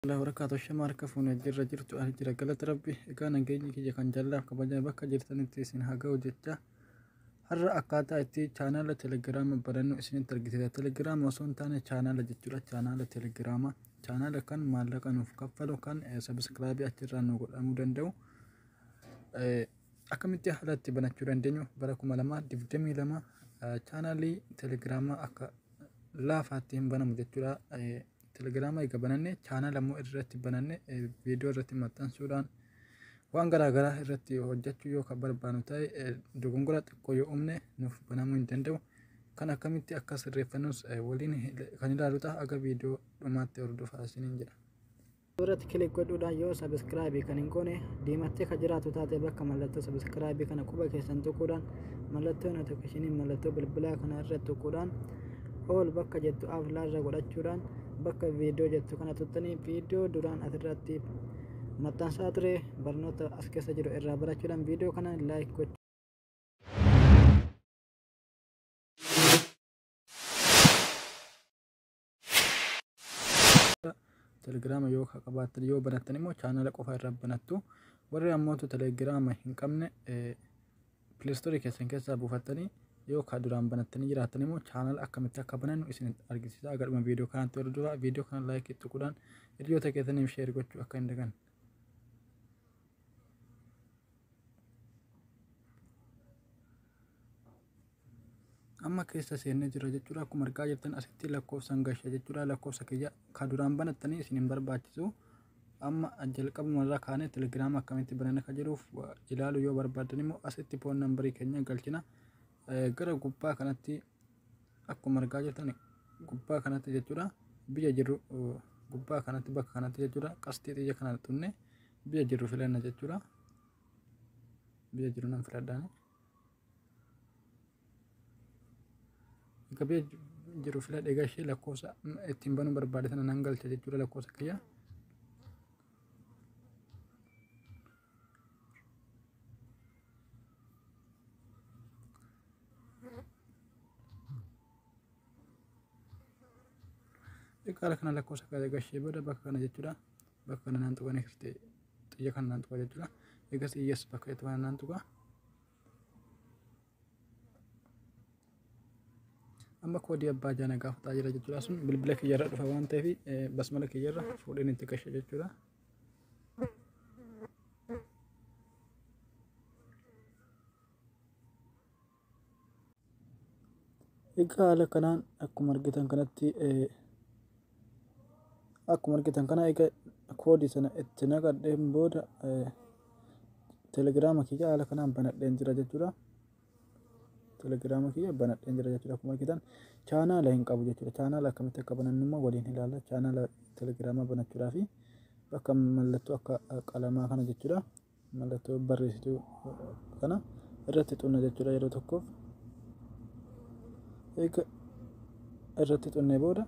Alaa warakaatu shama harka fuune jirra jirtu ani jira galata rabbi egaa nageenyi kiyya kan jallaaf kabajaa bakka jirtanitti isin haga'u jecha har'a akkaataa itti chaanaala telegiraama barannu isinitti argisiisa telegiraama osoo hin taane chaanaala jechuudha chaanaala telegiraama chaanaala kan maallaqa nuuf kaffalu kan sabiskiraabii achirraa nu godhamuu danda'u akkamitti haala itti banachuu dandeenyu bara kuma lamaa digdamii lama chaanaalii telegiraamaa akka laafaatti hin banamu jechuudha. Telegiraama eega bananne chaanala immoo irratti bananne viidiyoo irratti maxxansuudhaan waan garaa garaa irratti hojjechuu yoo kan barbaannu ta'e dogongora xiqqoo yoo uumne nuuf banamuu hin danda'u. Kan akkamitti akka sirreeffannus waliin kan ilaalu ta'a aga viidiyoo dhumaatti hordofaa isiniin jedha. irratti kilik godhuudhaan yoo sabiskiraabii kan hin goone diimattee kan jiraatu taate bakka mallattoo sabiskiraabii kana quba keessan tuquudhaan mallattoo notifikashinii mallattoo bilbilaa kana irratti tuquudhaan all bakka jettu aflaarra godhachuudhaan bakka viidiyoo jettu kana tuttanii viidiyoo duraan asirratti maxxansaa ture barnoota as keessa jiru irraa barachuudhaan viidiyoo kana laayik gochuu telegiraama yoo qabaattan yoo banattan immoo chaanala qofa irra banattu warri ammoo telegiraama hin qabne Pileestoorii keessan keessaa buufattanii yoo ka duraan banattanii jiraattan immoo chaanala akkamitti akka banannu isin argisiisa. Aga dhuma viidiyoo kanaatti hordofaa viidiyoo kana laayikii tuquudhaan hiriyoota keessaniif sheer gochuu akka hin daganne. amma keessa seennee jirra jechuudha akkuma argaa jirtan asitti lakkoofsaan gashe jechuudha lakkoofsa kiyya ka duraan banattanii isin hin barbaachisu Amma jalqabuma irraa kaanee Telegram akkamitti banana ka jedhuuf ilaalu yoo barbaadan immoo asitti phone number keenya galchina. Gara gubbaa kanatti akkuma argaa jirtan gubbaa kanatti jechuudha biyya jirru gubbaa kanatti bakka kanatti jechuudha qasxii xiyya kana tunne biyya jirru filanna jechuudha. Biyya jirru nan filadhaani. Gabee jiru fila dhegaa ishee lakkoofsa ittiin banuu barbaade sana nan galcha jechuudha lakkoofsa kiyya. Xiqqaala kana lakkoofsa kiyya egaa ishee booda bakka kana jechuudha. Bakka kana naan tuqaa next xiyya kana naan tuqaa jechuudha. Egas iyyas bakka itti naan tuqaa. amma koodii abbaa jaana gaafataa jira jechuudha sun bilbila kiyyarra dhufa waan ta'eef eh, basmala kiyyarra fuudheen itti gashe jechuudha. Egaa haala kanaan akkuma argitan kanatti akkuma argitan kana egaa koodii sana itti naqadheen booda telegiraama kiyya haala kanaan banadheen jira jechuudha. Telegiraama kiyya banadheen jira jechuudha akkuma argitan chaanaala hin qabu jechuudha. Chaanaala akkamitti akka banannu immoo waliin ilaalla. Chaanaala telegiraamaa banachuudhaafi bakka mallattoo akka qalamaa kana jechuudha. mallattoo barreessituu kana irratti xunna jechuudha yeroo tokkoof eega irratti xunnee booda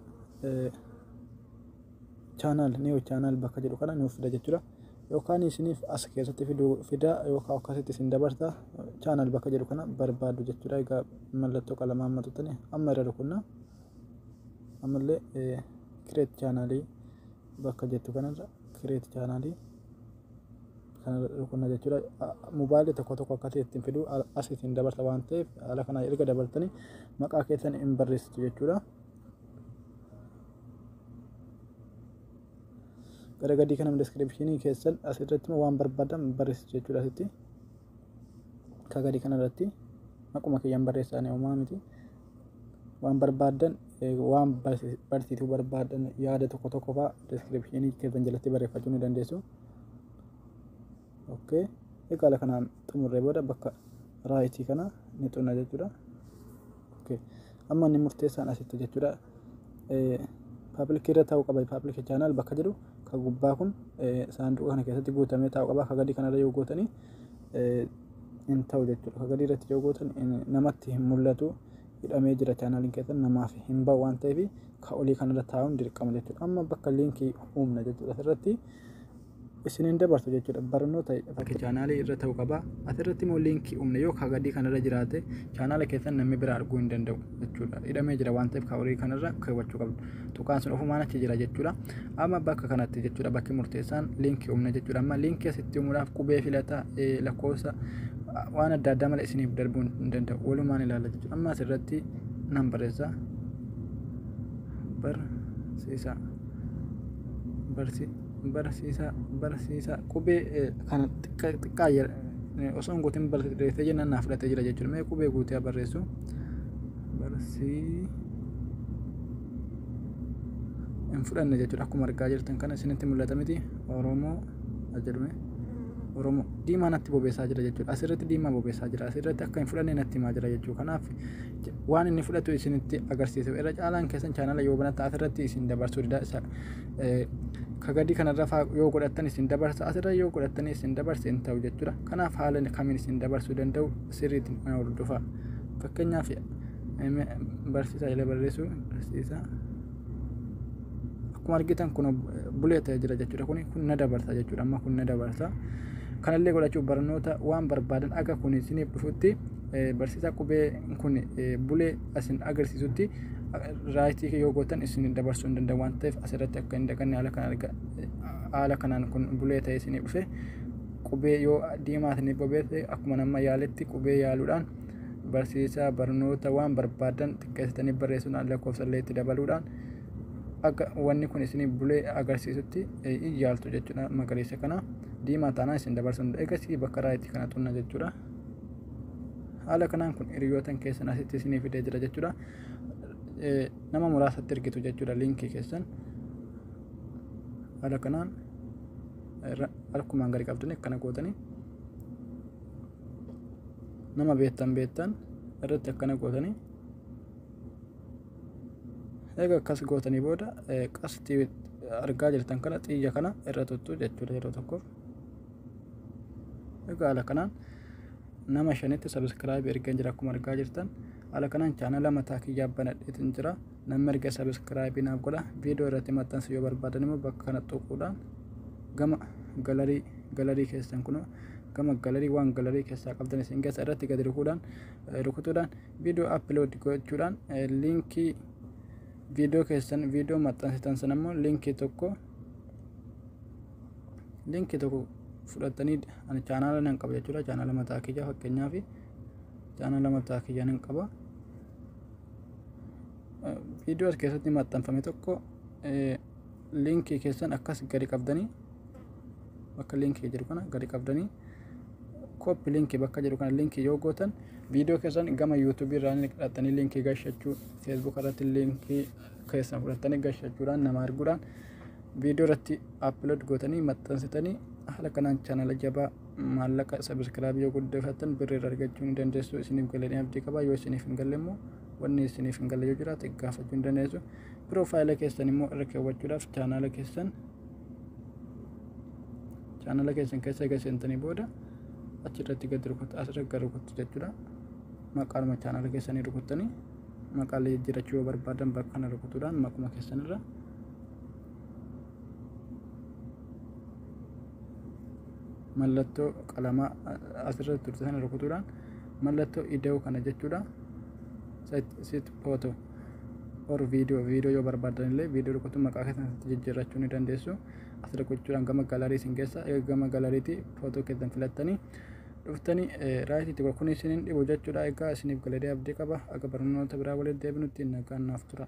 chaanaal niiw chaanaal bakka jedhu kana nuuf fida jechuudha yookaan isiniif as keessatti fiduu fidaa yookaan akkasitti isin dabarsa chaanaal bakka jedhu kana barbaadu jechuudha egaa mallattoo qalamaa amma tuttani amma irra rukunna ammallee kireet chaanaalii bakka jettu kanarra kireet chaanaalii kanarra dhukkubna jechuudha. Mobaayilii tokko tokko akka ta'e ittiin fiduu as ittiin dabarsa waan ta'eef haala kana erga dabartanii maqaa keessan hin barreessitu jechuudha. Gara gadii kana descriptionii keessan as irratti waan barbaadan barreessitu jechuudha asitti. Akka gadii kanarratti maquma kiyyaan barreessaanii homaa miti. waan barbaaddan waan barsiisuu barbaaddan yaada tokko tokko faa description keessan jalatti barreeffachuu ni dandeessu. Okay. Egaa ala kanaan xumurree booda bakka raayitii kana ni xunna jechuudha. Okay. Amma inni murteessaan asitti jechuudha. Paaplikii irra taa'uu qaba. Paaplikii chaanaal bakka jedhu kan gubbaa kun saanduqa kana keessatti guutamee taa'uu qaba. Akka gadii kanarra yoo gootanii hin ta'u jechuudha. Ka gadii irratti yoo gootan namatti hin mul'atu hidhamee jira chaanaaliin keessan namaaf hin ba'u waan ta'eef ka olii kanarra taa'uun dirqama jechuudha. Amma bakka liinkii uumna jechuudha asirratti isiniin dabarsu jechuudha. Barnoota bakka chaanaalii irra ta'u qaba. Asirratti immoo liinkii uumna yoo ka gadii kanarra jiraate chaanaala keessan namni bira arguu hin danda'u. jechuudha. Hidhamee jira waan ta'eef horii kanarra keewwachuu qabdu. Tuqaan sun ofumaan achi jira jechuudha. Amma bakka kanatti jechuudha bakki murteessaan liinkii humna jechuudha. Amma liinkii asitti uumuudhaaf qubee filata lakkoofsa waan adda addaa malee isiniif darbuun hin danda'u. Walumaan ilaalla jechuudha. Amma asirratti nan barreessa. Barsiisaa. Barsi barsiisaa barsiisaa qubee kana xiqqaa osoo hin guutin barreessee jennaan naaf fudhatee jira jechuudha. Mee qubee guutee barreessu. barsii hin fudhanne jechuudha akkuma argaa jirtan kana isinitti mul'ata miti oromoo jedhume oromoo diimaa natti bobeessaa jira jechuudha asirratti diimaa bobeessaa jira asirratti akka hin fudhanne natti himaa jira jechuudha kanaaf waan inni fudhatu isinitti agarsiisa irra caalaan keessan chaanala yoo banattan asirratti isin dabarsuu dida isa kagadii kanarra faa yoo godhattan isin dabarsa asirra yoo godhattan isin dabarsa hin ta'u jechuudha kanaaf haala kamiin isin dabarsuu danda'u sirriitti mana hordofaa. Fakkeenyaaf barsiisaa jedhee barreessuu barsiisaa akkuma argitan kun bulee ta'ee jira jechuudha kun kun na dabarsa jechuudha amma kun na dabarsa kanallee godhachuuf barnoota waan barbaadan akka kun isiniif dhufutti barsiisaa qubee kun bulee asin agarsiisutti raayitii yoo gootan isin dabarsuu hin danda'u waan ta'eef asirratti akka hin dhaqanne haala kanaan kun bulee ta'ee isiniif dhufe qubee yoo diimaas ni bobeesse akkuma nama yaaletti qubee yaaluudhaan barsiisaa barnoota waan barbaadan xiqqeessitanii barreessuudhaan lakkoofsa illee itti dabaluudhaan akka wanni kun isin bulee agarsiisutti hin yaaltu jechuudha magariisa kana diimaa taanaan isin dabarsuun eegasii bakka raayitii kana xunna jechuudha. Haala kanaan kun hiriyootan keessan asitti isinii fidee jira jechuudha. Nama muraasatti ergitu jechuudha liinkii keessan. Haala kanaan. irra harkumaan gadi qabdanii akkana gootanii nama beektan beektan irratti akkana gootanii eega akkas gootanii booda qastii argaa jirtan kana xiyya kana irra tuttu jechuudha yeroo tokkoof egaa haala kanaan nama shanitti sabiskiraayibii ergan jira akkuma argaa jirtan haala kanaan chaanala mataa kiyyaa banadheetin jira Namni arge subscribe naaf godha. Viidiyoo irratti maxxansu yoo barbaadan immoo bakka kana tuquudhaan gama galarii galarii keessan kunoo gama galarii waan galarii keessaa qabdan isin keessa irratti gadi rukuudhaan rukutuudhaan viidiyoo upload gochuudhaan liinkii viidiyoo keessan viidiyoo maxxansitan sana immoo liinkii tokko liinkii tokko fudhattanii ani chaanaala nan qaba jechuudha chaanaala mataa kiyyaa fakkeenyaaf chaanaala mataa kiyyaa nan qaba. viidiyoo as keessatti maxxanfame tokko liinkii keessan akkas gadi qabdanii bakka liinkii jiru kana gadi qabdanii kooppi liinkii bakka jedhu kana liinkii yoo gootan viidiyoo keessan gama yuutuubii irraa ni fudhattanii liinkii gashachuu feesbuuk irratti liinkii keessan fudhattanii gashachuudhaan nama arguudhaan viidiyoo irratti appilood gootanii maxxansitanii haala kanaan chaanala jabaa maallaqa sabiskiraabii yoo guddifattan birri irra argachuu ni dandeessu isiniif galee abdii qaba yoo isiniif hin galle immoo wanni isiniif hin galle yoo jiraate gaafachuu ni dandeessu piroofaayila keessan immoo irra keewwachuudhaaf chaanaala keessan chaanala keessan keessa egaa seentanii booda achirratti gadi rukutu asirra gadi rukutu jechuudha maqaanuma chaanala keessanii rukuttanii maqaalee jijjiirachuu yoo barbaadan bakka kana rukutuudhaan maquma keessanirra mallattoo qalamaa asirra turte sana rukutuudhaan mallattoo ida'uu kana jechuudha sit photo or video video yoo barbaadan illee video rukutuu maqaa keessanitti jijjiirrachuu ni dandeessu as rukuchuudhaan gama galarii isin keessa eega gama galariitii footoo keessan filattanii dhuftanii raayit itti kun isin hin dhibu jechuudha egaa isiniif galatee abdii qaba akka barnoota biraa waliin deebinutti nagaan naaf tura.